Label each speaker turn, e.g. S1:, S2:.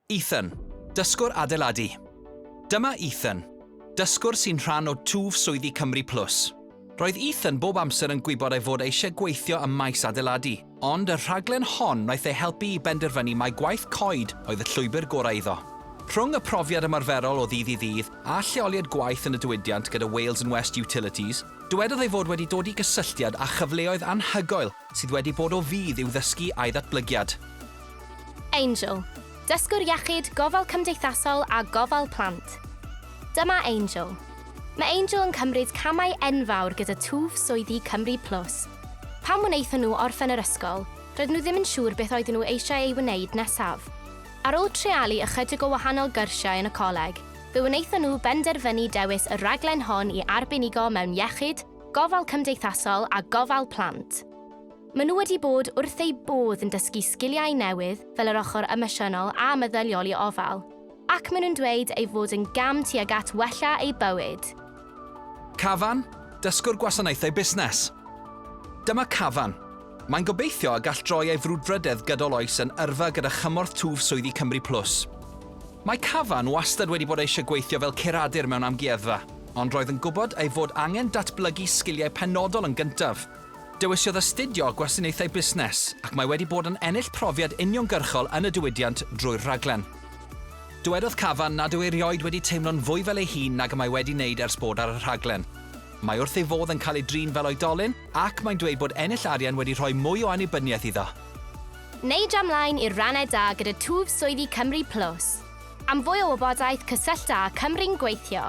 S1: Ethan, dysgwr adeiladu. Dyma Ethan, dysgwr sy'n rhan o twf swyddi Cymru Plus. Roedd Ethan bob amser yn gwybod ei fod e eisiau gweithio ym maes adeiladu, ond y rhaglen hon wnaeth ei helpu i benderfynu mai gwaith coed oedd y llwybr gorau iddo. Rhwng y profiad ymarferol o ddydd i ddydd a lleoliad gwaith yn y diwydiant gyda Wales and West Utilities, dywedodd ei fod wedi dod i gysylltiad â chyfleoedd anhygoel sydd wedi bod o fudd i'w ddysgu a'i ddatblygiad.
S2: Angel, dysgwr iechyd, gofal cymdeithasol a gofal plant. Dyma Angel. Mae Angel yn cymryd camau enfawr gyda twf swyddi Cymru Plus. Pan wnaethon nhw orffen yr ysgol, roedden nhw ddim yn siŵr beth oedden nhw eisiau ei wneud nesaf. Ar ôl treialu ychydig o wahanol gyrsiau yn y coleg, fe wnaethon nhw benderfynu dewis y rhaglen hon i arbenigo mewn iechyd, Gofal Cymdeithasol a Gofal Plant. Maen nhw wedi bod wrth eu bodd yn dysgu sgiliau newydd fel yr ochr emosiynol a meddyliol i ofal, ac maen nhw'n dweud ei fod yn gam tuag at wella eu bywyd.
S1: Cafan, Dysgwr Gwasanaethau Busnes. Dyma Cafan. Mae'n gobeithio y gall droi ei frwdfrydedd gydol oes yn yrfa gyda chymorth twf swyddi Cymru Plus. Mae Cavan wastad wedi bod eisiau gweithio fel curadur mewn amgueddfa, ond roedd yn gwybod ei fod angen datblygu sgiliau penodol yn gyntaf. Dewisiodd astudio Gwasanaethau Busnes, ac mae wedi bod yn ennill profiad uniongyrchol yn y diwydiant drwy'r rhaglen. Dywedodd Cavan nad yw erioed wedi teimlo'n fwy fel ei hun nag y mae wedi wneud ers bod ar y rhaglen. Mae wrth ei fodd yn cael ei drin fel oedolyn, Ac mae'n dweud bod ennill arian wedi rhoi mwy o annibyniaeth iddo. Neidio
S2: ymlaen i'r rannau da gyda twf swyddi Cymru Plus. Am fwy o wybodaeth cysyllta â Cymru'n Gweithio.